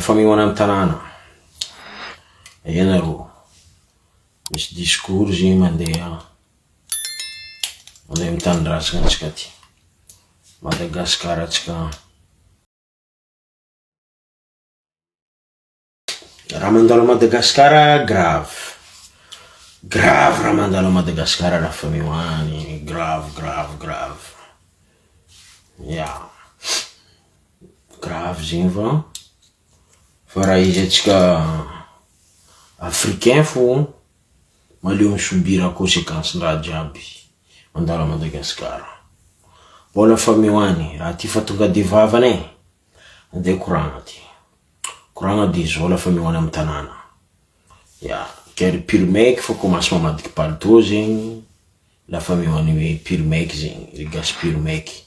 Famehoana ny tanàna, ianareo misy discours zay mandeha any amin'ny tanindrazana antsika aty Madagascar antsika an. Raha mandalo à Madagascar grave, grave raha mandalo à Madagascar raha fameohana, grave grave grave ya. Grave zegny fa, fa raha izy antsika africain fô maleo mi subir consequence ndraha jiaby mandalo à Madagascar, mbôla fa meo any raha ty fa tonga de vavany e, ande koragna ty, koragna de zao la fa meo any amy tanàna, ya ke ry pur mec fa ko maso mamadiky palitô zegny la fa meo any hoe pur mec zegny, ry gasy pur mec.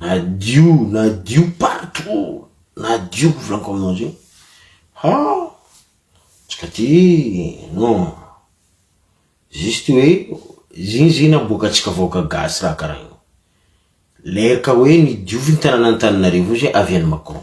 Na dio na dio partout na dio volako aminao zay ha tsy ka ty non juste hoe zigny zigny naboaka antsika vahoaka gasy raha karaha io, le ka hoe ny diovy ny tananan'Antananarivo io zay avy any Macron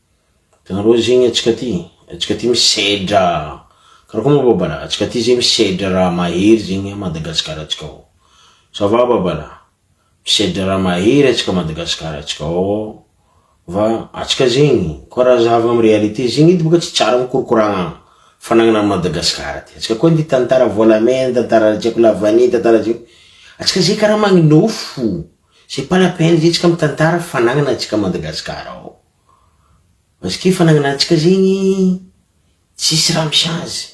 Tena loza zegny antsika ty, antsika ty misedra karakory moa babala, antsika ty zegny misedra raha mahery zegny Madagascar ntsika ao, ça va babala, misedra raha mahery antsika Madagascar ntsika ao, va antsika zegny koa raha zahava amy réalité zegny edy boka tsy tsara mikorokorana fanagnana an'i Madagascar ty, antsika koa ty tantara volamena, tantara tsy haiko lavanie, tantara tsy haiko, antsika zegny karaha magninofo. C'est pas la peine zay tsika mitantara fanagnana antsika Madagascar ao parce que fanagnana antsika zegny tsisy raha misy azy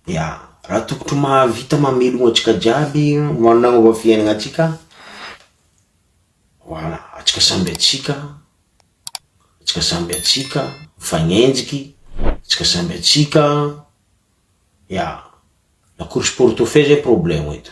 ya raha tokotry mahavita mamelogno antsika jiaby managnova fiainagna antsika voilà antsika samby antsika antsika samby antsika mifagnenjiky antsika samby antsika ya la course pour tout fait zay problème eto.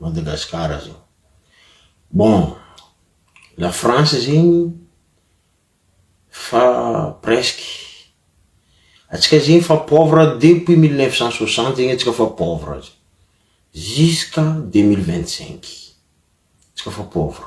Madagascar zao. Bon, la France zegny fa presque, atsika zegny fa pauvre depuis mille neuf cent soixante zegny atsika fa pauvre aza, jusqu'à deux mille vingt cinq, atsika fa pauvre.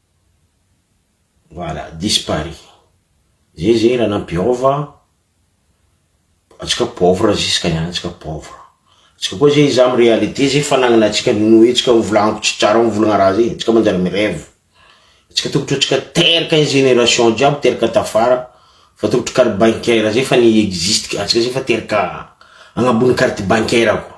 Voilà dispari zay zay raha nampiova antsika pauvre jusque niany antsika pauvre antsika koa zay iza am réalité zay fanagnana antsika noho itsika mivolagna ko tsy tsara mivolagna raha zay antsika manjary mi reve antsika tokotry antsika teraka ny génération jiaby teraka tafara fa tokotry carte bancaire zay fa ni existe antsika zay fa teraka agnambony carte bancaire koa.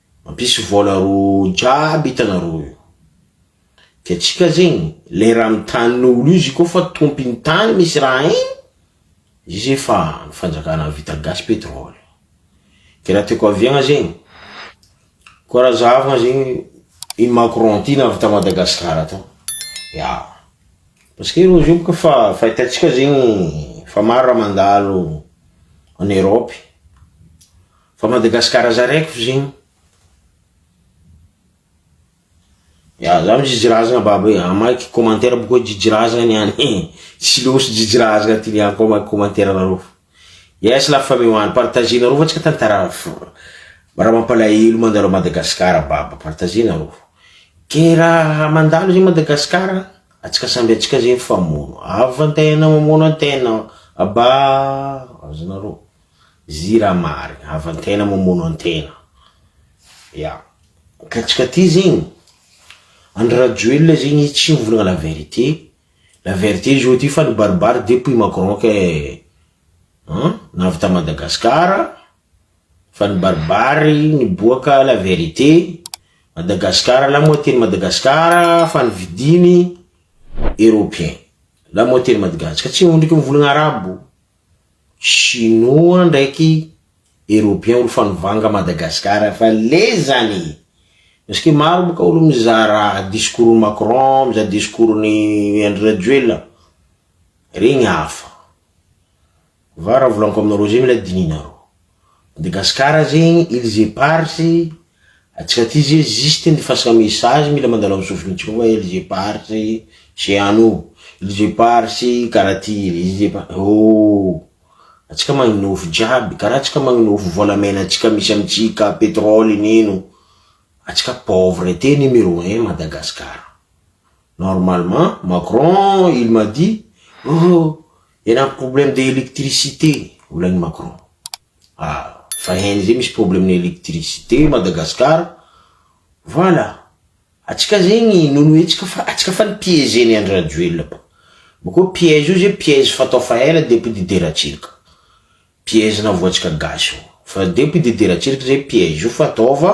Mampisy vola roa jiaby hitanareo io. Dia tsika zegny le raha amin'ny tanin'olo izy koa fa tompiny tany misy raha igny, izy zay fa ny fanjakana avita gasy petrole. Dia raha tiako aviagna zegny, koa raha zahavagna zegny i Macron ty navy ta Madagasikara tao, ya, parce que reo zao boka fa fahitantsika zegny fa maro raha mandalo en Europe. Fa Madagascar zaraiko zegny. Ya za misy jijy razagna babo e, amaiko commentaire aby koa jijy razagna niany e, tsy losy jijy razagna ty niany koa amaiko commentaire nareo fa yes la famille one partager nareo fa tsika tantara raha mampalahelo mandalo a Madagascar babo partager nareo ke raha mandalo zegny Madagascar atsika samby atsika zegny mifamono avy fa ny tegnanao mamono ny tegnanao aba azonareo. Jirama ary havan-tena mamono an-tena. Ya. Katsika ty zegny. Andry Rajoelina zegny tsy mivolagna la vérité. La vérité izy ôty fa nibaribary depuis Macron kay an na avy ta Madagascar fa nibaribary niboaka la vérité. Madagascar la moitié ny Madagascar fa novidiny Européen. La moitié ny Madagascar. Tsy ondriky mivolagna arabo. Chinois ndraiky européen olo fanovanga Madagascar fa lezany parce que maro boka olo mizara discours ny Macron mizara discours ny Andry Rajoelina regny hafa va raha volaniko aminareo zay mila dininareo. Madagascar zegny îles éparses antsika aty ze juste ny fasana message mila mandalo am sofiny tsika fa îles éparses ze any o, îles éparses kara ty, îles éparses oh antsika magnofy jiaby kara antsika magnofy volamena tsika misy amitsika petrole nino antsika pauvre te numero un Madagascar normalement Macron il m'a dit oh. Eny am problème de électricité volan'i Macron. Ah fa hen izay misy problème ny électricité Madagascar. Voilà. Atsika zegny nonoe atsika fa atsika fa ni piéger ny Andry Rajoelina ba. Bakeo piège io zay piège fatao fa ela depouille de ratsiraka. Piège navoatsika gasy io. Fa depouille de ratsiraka zay piège io fa ataova.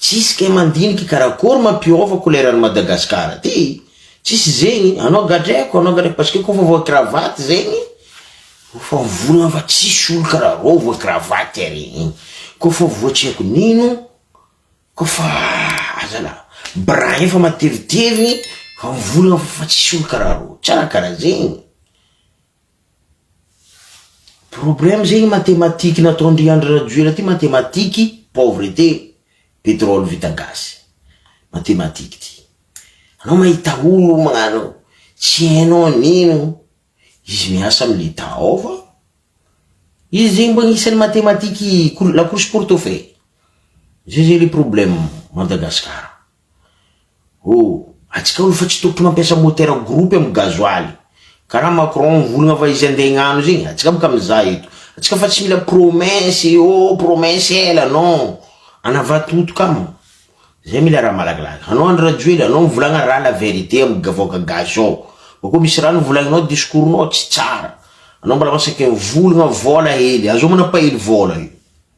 Tsisy kay mandiniky karakory mampiova couleur an'i Madagascar ty tsisy zegny anao gadreko anao gadreko parce que kofa voa cravate zegny ofa mivolagna fa tsisy olo karaha rô voa cravate ary iny kofa voa tsy haiko nino kofa ah zalah brin efa matevitevigny fa mivolagna fa tsisy olo karaha rô tsara karaha zegny. Problème zegny mathematique nataondry Andry Rajoela ty mathematique pauvreté pétrole vita gaz mathematique ty anao mahita olo magnano tsy hainao anino izy miasa am l'etat ao fa izy zegny mba agnisany mathematique la course pour tout fait zay zay le problème Madagascar. Oh! Atsika aloha fa tsy tokony mampiasa moteur groupe am gasoil. Karaha Macron mivolagna fa izy andeha hignano zegny, atsika boka mizaha eto. Atsika fa tsy mila promesse e oh! Promesse ela non! Anava toto kamo. Zay mila raha malakilaky. Anao Andry Rajoely, anao mivolagna raha la vérité am vahoaka gasy ao. Bakeo misy raha novolagninao discours nao tsy tsara. Anao mbola masaky mivolagna vola hely. Aza omana pahely vola io.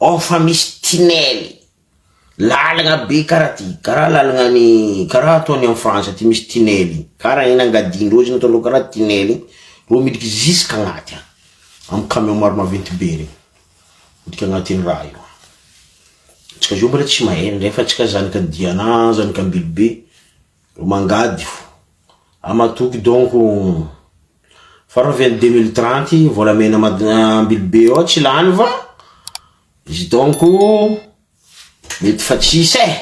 Ao fa misy tunnel, lalagna be karaha ty, karaha lalagna any karaha atao any am frantsa aty misy tunnel iny, karaha iny angadian-dreo zany ataondreo karaha tunnel iny reo miditra jusque agnaty any, am camion maro maventy be reny, miditra agnaty iny raha io any, tsika zao mbola tsy mahay, ndray fa tsika zanaka diana, zanaka ambilobe, Ro mangady fo ama toky donc fa reo vely deux mille trente volamena mad ambily be eo tsy lany va izy donc mety fa tsisy eh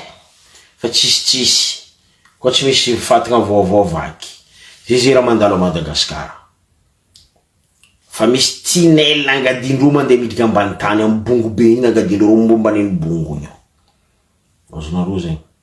fa tsisy tsisy koa tsy misy fatagna vaovao vaky ze ze raha mandalo a Madagascar fa misy tinel angadiandreo mandeha miditra ambany tany am bongo be iny angadiandreo reo momba an'iny bongo iny ao azonareo zegny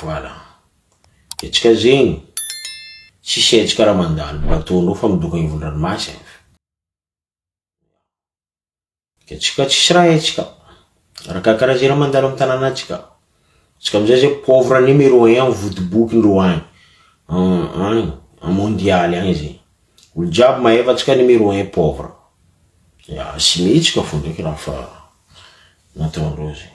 Voilà. Hetsika zegny, tsisy hetsika raha mandalo bateau anao fa midongy agny ivon'ny ranomasy agny. Hetsika tsisy raha hetsika, arakakaraha ze raha mandalo amin'ny tananatsika. Tsika amizay zay pauvre numero un am vodoboky ndreo agny, agny a mondialy agny zay, olo jiaby mahay fa tsika numero un pauvre, ya simihetsika fo ndreky raha fa nataondreo zegny.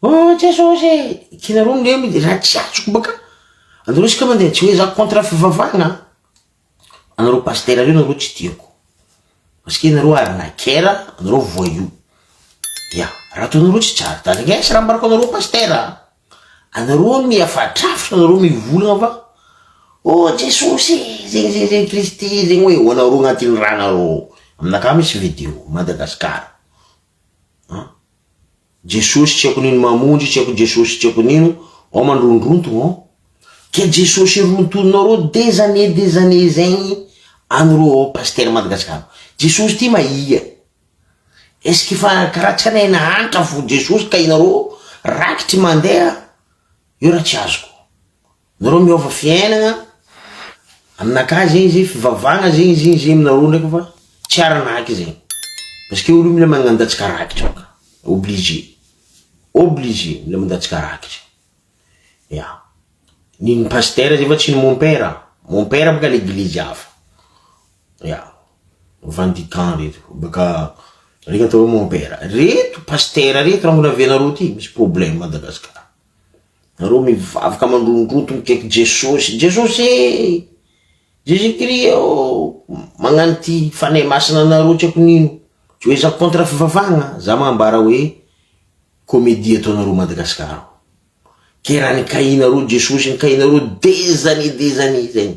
Oh Jesosy e! Ianareo no miha mila raha tsy azoko baka anareo isika mandeha tsy hoe za contre fivavahana an! Anareo pasitera reo nareo tsy tiako parce que ianareo arnaquer anareo voyou ya raha ataonareo tsy tsara da regnesy raha ambarako anareo pasitera an! Anareo miha fatrafy anareo mivolagna fa oh Jesosy e! zegny zegny zegny Kristy zegny hoe ho anareo agnatin'ny ranareo aminakahy misy video Madagascar. an! Jesosy tsy haiko nino Mamonjy tsy haiko Jesosy tsy haiko nino Ao mandrondrontogno ao Ka Jesosy rontoninareo des années des années zegny Anareo ao Pasitera Madagasikara Jesosy ty mahia Est ce qu'efa karaha tsy anay nahantra fo Jesosy ka inareo rakitry mandeha Io raha tsy azoko Nareo miova fiainagna, aminakahy zegny izy fivavahagna zegny izy igny zegny aminareo ndraiky fa tsy aranaky zegny, parce que olo io mila magnandatsaka rakitra ka, obligé, obligé mila mandatsaka rakitra, ya, ny ny pasitera zay fa tsy ny mompera, mompera boka leglizy hafa, ya, vendican reto, baka reo atao hoe mompera, reto pasitera reto raha mbola avy anareo ty misy problème Madagascar. Nareo mivavaka mandrondroto mikaiky Jesosy, Jesosy ee! Jésus Christ oo! Magnano ity Fanahy Masina anareo tsy haiko nino, tsy hoe za contre fivavahagna, za magnambara hoe comédie ataonareo Madagascar ao, ke raha nikahinareo Jesosy nikahinareo des années des années zegny,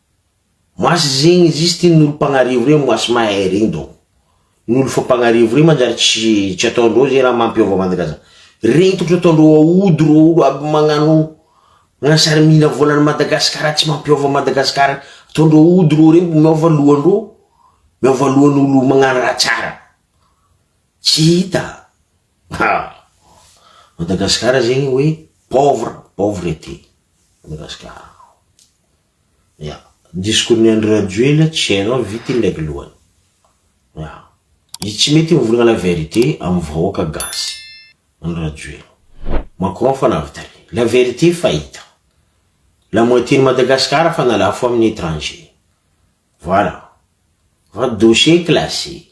Mas zegny izy izy ty nolo mpagnarivo reo mas mahay regny donc nolo fa mpagnarivo reo manjary tsy tsy ataondreo ze raha mampiova mandraza regny tokony ataondreo aody reo olo aby magnano magnano sary mila vola any Madagascar tsy mampiova Madagascar ataondreo aody reo regny miova lohandreo miova lohan'olo magnano raha tsara tsy hita ha Madagascar zegny hoe pauvre pauvreté Madagascar. Ya. Ny discours ny Andry Rajoelina tsy hainao vita iny leg lohany. Ya. Izy tsy mety mivolagna la verite am vahoaka gasy. Andry Rajoelina. Macron fa navita re. La verite fa hita. La moitié ny Madagascar fa nalafo aminy étranger. Voilà. Fa dossier classé.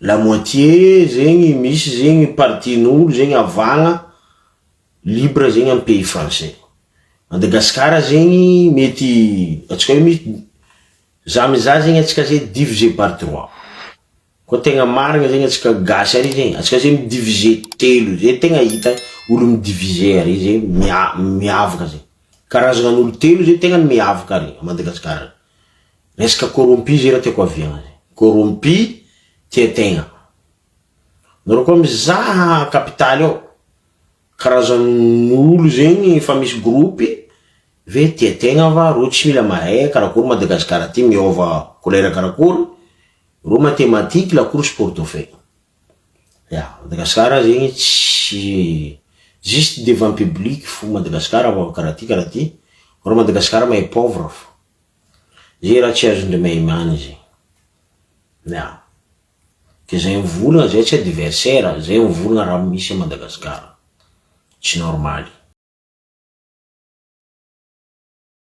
la moitié zegny misy zegny partie n'olo zegny avagna libre zegny am pays français, Madagascar zegny mety atsika hoe misy za miza zegny atsika ze divisé par trois, koa tegna marigny zegny atsika gasy ary zegny, atsika zegny mi divisé telo ze tegna hita olo mi divisé ary ze mia- miavaka ze, karazanan'olo telo ze tegna miavaka ary a Madagascar. Resaka corrompu zay raha tiako aviany. Corrompu tia tegna. Nareo koa mizaha capitale ao, karazan'olo zegny efa misy groupe ve tia tegna va reo tsy mila mahay karakory Madagascar ty miôva couleur karakory, reo mathematique la course pour tout fait. Ya, Madagascar zegny tsy juste devant public fo Madagascar avy karaha ty karaha ty, reo Madagascar mahay pauvre fo, ze raha tsy azondre mahay many zegny, ya, ke zay mivolagna zay tsy adversaire, zay mivolagna raha misy a Madagascar, tsy normaly.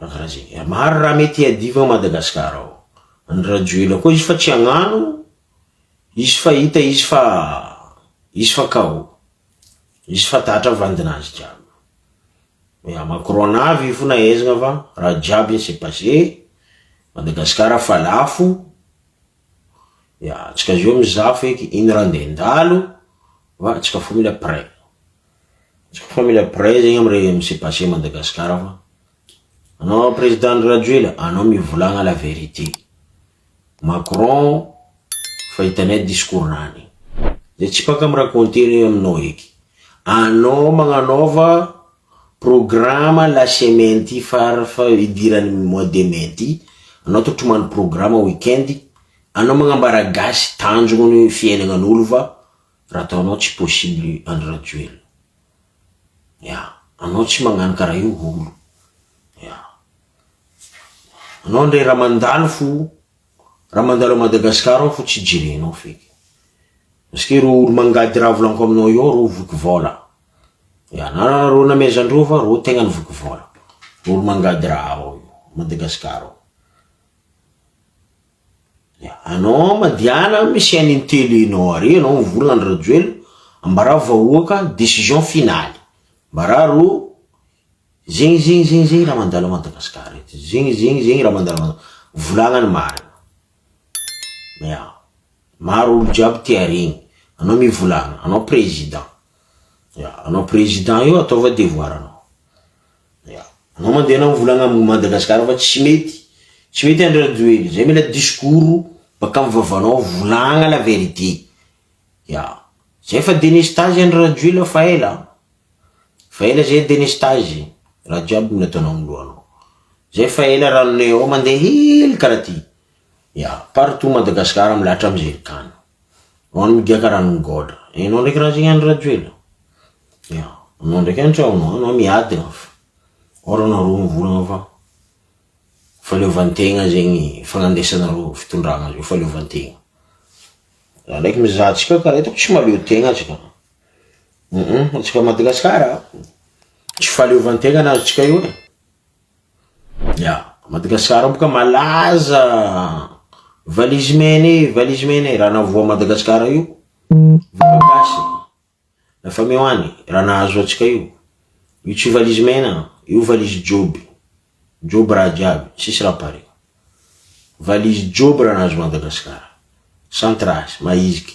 Raha maro raha mety hiadiva ao Madagascar ao ny Rajoelina koa izy fa tsy agnano izy fa hita izy fa izy fa KO izy fa tatra vandinazy jiaby hoe a Macron avy io fona aizina fa raha jiaby ny se passe Madagascar fa lafo Ya tsika zao mizaha feky iny raha ndeha handalo va tsika fa mila prêt. Tsika fa mila prêt zegny am re mise passe Madagascar fa anao président Andry Rajoelina anao mivolagna la vérité. Macron fa hitanay discours nany. De tsy paka mi raconter aminao eky. Anao magnanaova. Programa la semaine ity farfa idirany mois de mai ity, anao to tomany programa week-end, anao magnambara gasy tanjogno ny fiainagnan'olo fa raha ataonao tsy possible Andry Rajoelina. Ya. Anao tsy magnano karaha io olo. Ya. Anao ndray raha mandalo fo Raha mandalo à Madagascar aho fo tsy jerenao feky. Parce que ro olo mangady raha volanko aminao eo ro voky vola. Ya na ro namezandrova ro tegna ny voky vola. Ro olo mangady raha ao io Madagascar ao. Ya anao madiana amy chaine ny tele nao ary anao mivola Andry Rajoelina ambarao vahoaka décision finale. Ambarao ro Zegny zegny zegny zegny raha mandalo à Madagascar eto zegny zegny zegny raha mandalo à volagna ny marina ya maro olo jiaby te haregny anao mivolagna anao président ya anao président io ataova devoir anao ya anao mande anao mivolagna à Madagascar fa tsy mety tsy mety Andry Rajoelina zay mila discours baka am vavanao volagna la vérité ya zay fa delestazy Andry Rajoelina fa ela. Fa ela zay Denis Tazy, raha jiaby no ataonao ny lohanao. Zay fa ela raha Leo mandeha hely karaha ty. Ya, partout Madagascar milahatra am ze tany. Ho an'ny media karaha an'i Goda. Enao ndraiky raha zay Andry Rajoelina. Ya, anao ndraiky any sao anao anao miady an fa. Or anao roa mivolagna fa fahaleovantegna zegny fagnandesanareo fitondragna zao fahaleovantegna. Za ndraiky mizaha antsika karaha hitako tsy mahaleo tegna tsika. Humm antsika Madagasikara tsy fahaleovan-tegna ny azontsika io e. Ya, Madagasikara ao boka malaza valise mena e, valise mena e, raha navoa Madagasikara io voka gasy lafa meo any raha nahazo antsika io, io tsy valise mena io valise joby, joby raha jiaby tsisy raha pare, valise joby raha nahazo Madagasikara sans trace, mahiziky.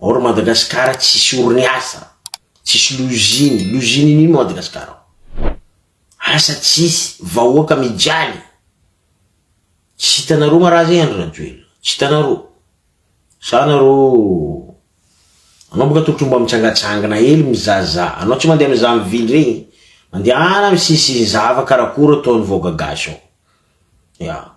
ao ry Madagasikara tsisy orin'asa, tsisy loziny, loziny ino ino Madagasikara ao, asa tsisy, vahoaka mijaly, tsy hitanareo nga raha zay Andry Rajoelina, tsy hitanareo, sa nareo, anao boka tokony mba mitsangatsangana hely mizaza, anao tsy mandeha mizaha am ville regny, mandehana misisihy zava karakôry ataon'ny vahoaka gasy ao, ya.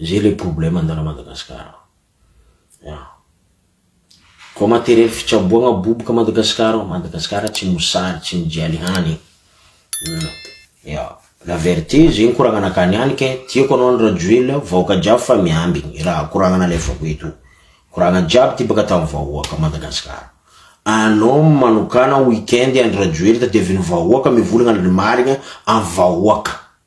Zay le problème ndana Madagascar ya ko materiel fitsaboana boboka Madagascar ao Madagascar tsy mosary tsy mijaly hany ya la verte zegny koragna nakany any ke tiako anao andry rajoelina vahoaka jiaby fa miambigny raha koragna nalefako eto koragna jiaby ty baka tam vahoaka Madagascar anao manokana week-end andry rajoelina tadiaviny vahoaka mivolagna ny marigna am vahoaka.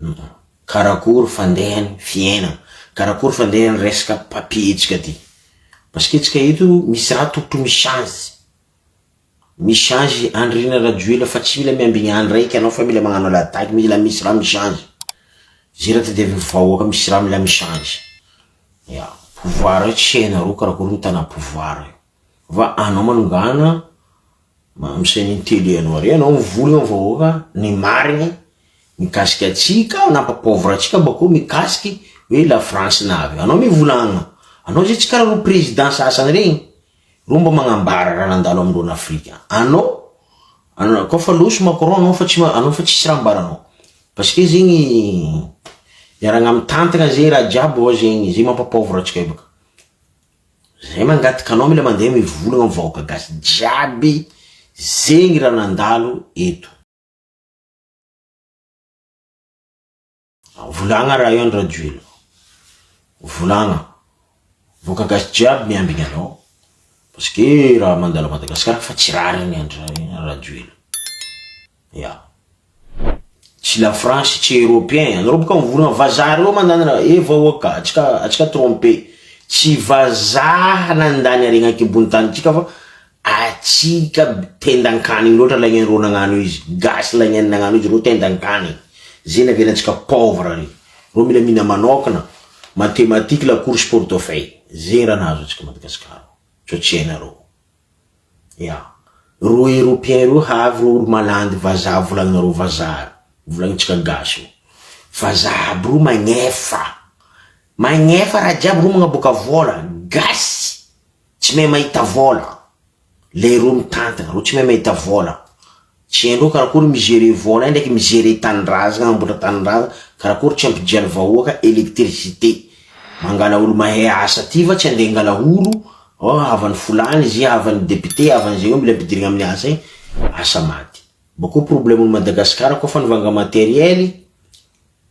Humm. Karakory fandeha ny fiainana. Karakory fandeha ny resaka papier ntsika aty. Parce que ntsika eto misy raha tokotry mi change. Mi change Andriana Rajoelina fa tsy mila miambigny any raiky anao fa mila magnano la dagy mila misy raha mi change. Ze raha tadiaviny vahoaka misy raha mila mi change. Ya. Pouvoir io tsy hainareo karakory mitana pouvoir io. Fa anao manongana mamsay ny tele anao re anao mivory am vahoaka ny marigny mikasika atsika nampa pauvre atsika bakeo mikasiky hoe la france na avy anao mivolagna anao zay tsy kara reo president sasany regny reo mba magnambara raha nandalo amindreo an afrika anao ana kô fa loso macron anao fa tsy ma anao fa tsisy raha ambaranao parce que zegny miaragna mitantagna ze raha jiaby ao zegny ze mampa pauvre atsika io baka. Zay mangataka anao mila mandeha mivolagna am vahoaka gasy jiaby zegny raha nandalo eto. Volagna raha io andry rajoelina volagna vahoaka gasy jiaby miambigny anao parce que raha mandalo a madagascar fa tsy rariny andry rajoelina. Ya. Tsy la France tsy européen, anareo boka mivorona vazaha reo mandanina eh vahoaka atsika atsika trompe tsy vazaha nandany aregna aty ambony tany atsika fa atsika tendan-kanigny loatra laigny reo nagnano izy gasy laigny nagnano izy reo tendan-kanigny ze naviana atsika pauvre re reo mila mihina manokana mathématique la course portefeuille ze raha nahazo atsika Madagasikara fa tsy hainareo. Ya. Reo européen reo havy reo olo malandy vazaha volaninareo vazaha reo. Volanintsika gasy reo. Vazaha aby reo magnefa. Magnefa raha jiaby reo magnaboaka vola. Gasy tsy mahay mahita vola. Le reo mitantana reo tsy mahay mahita vola. Tsy hain'ireo karakory mizere vola indraiky mizere tanindrazagna hamboatra tanindrazagna karakory tsy ampidiany vahoaka electricité mangala olo mahay asa aty fa tsy ande angala olo oh havany folany izy havany député havany zegny mila ampidirigna aminy asa igny asa maty bakeo problème ny Madagascar koa fa nivanga matériel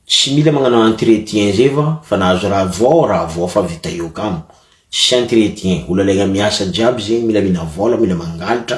tsy mila magnano entretien zay fa fa nahazo raha voa raha voa fa vita eo kamo tsisy entretien olo alaigna miasa jiaby zegny mila mila vola mila mangalatra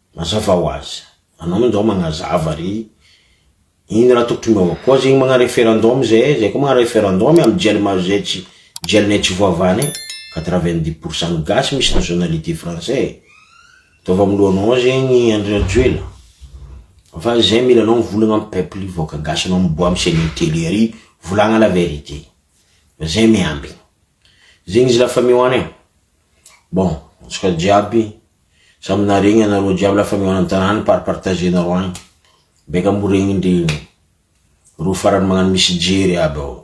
Mazava ho azy. Anao moa njao magnazava re. Iny raha tokotry miova koa zegny magna referendum zahay, zahay koa magna referendum amy gel ma zay tsy gel nay tsy voavahanay, quatre vingt dix pour cent ny gasy misy nationalité français e. Ataovy amy lohanao ao zegny Andry Rajoela. Fa zahay mila anao mivolagna amy peuple io vahoaka gasy anao miboaha amy chaine tele ary volagna la vérité. Fa zahay miambigny. Zegny izy la famille one e. Bon, antsika jiaby samy naharegny anareo jiaby la famille one an-tanàna par partager-nareo agny. Baika amboregny ndry reo farany magnano misy jery aby ao.